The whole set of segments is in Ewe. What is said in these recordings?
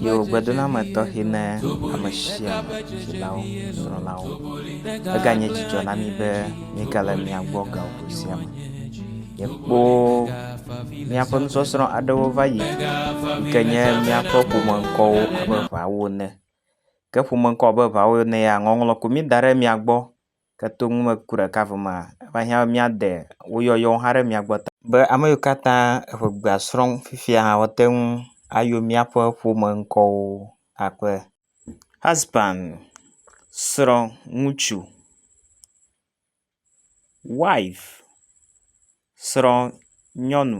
Yi wò gbedoɖeame tɔxɛ na ame sia ame, dzilawo, nusrɔ̃lawo. Eganye dzidzɔ na mí be míegale mia gbɔ gaŋkui sia me. Míekpɔ míaƒe nusɔsrɔ̃ aɖewo va yi yi ke nye míaƒe ƒomeŋkɔwo abe ʋaawo ene. Ke ƒomeŋkɔ abe ʋaawo ene ya ŋɔŋlɔ ko mí da ɖe mia gbɔ. Ke to numeku ɖeka vo mea, eva hiã be míade wo yɔyɔwo hã ɖe mía gbɔ ta. Be ame yiwo katã eŋegbea srɔ̃m fifia hã woate ŋu ayɔ míaƒe ƒome ŋkɔwo akpe. Husband, srɔ̃, ŋutsu. Wife, srɔ̃, nyɔnu.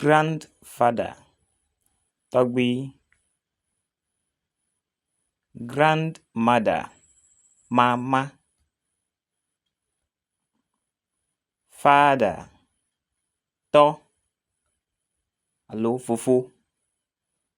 grand father, tɔgbui, grand mother, mama, father, tɔ alo fofo.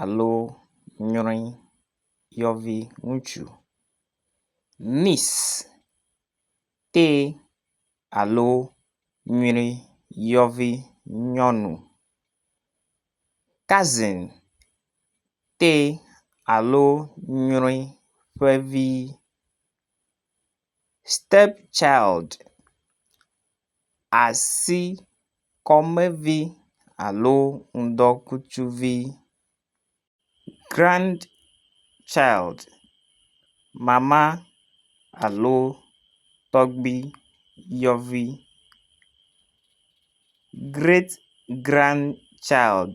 alo nyɔe yɔvi ŋutsu. Mis tee alo nyɔe yɔvi nyɔnu. Kazin tee alo nyɔe ƒe vi. Step child, asi kɔmevi alo ŋdɔkutsuvi. Grand child, mama alo tɔgbi yɔvi. Great grand child.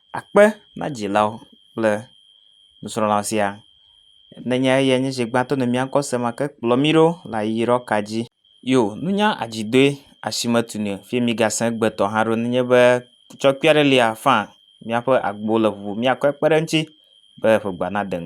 Akpe na dzilawo kple nusrɔ̃la sia nenye eyae nye zi gbãtɔ nɔ mía ŋkɔ se ma ke kplɔ mí ɖo le ayiyɔyɔ ka dzi. Yo, nunya adzidoe asi metu nɛ o. Fie migasẽ egbe tɔ hã ɖo nenye be kutsɔ kpui aɖe lia, faa míaƒe agbowo le ʋuʋu. Míakɔe kpe ɖe eŋuti be ƒe gbea nade ŋu.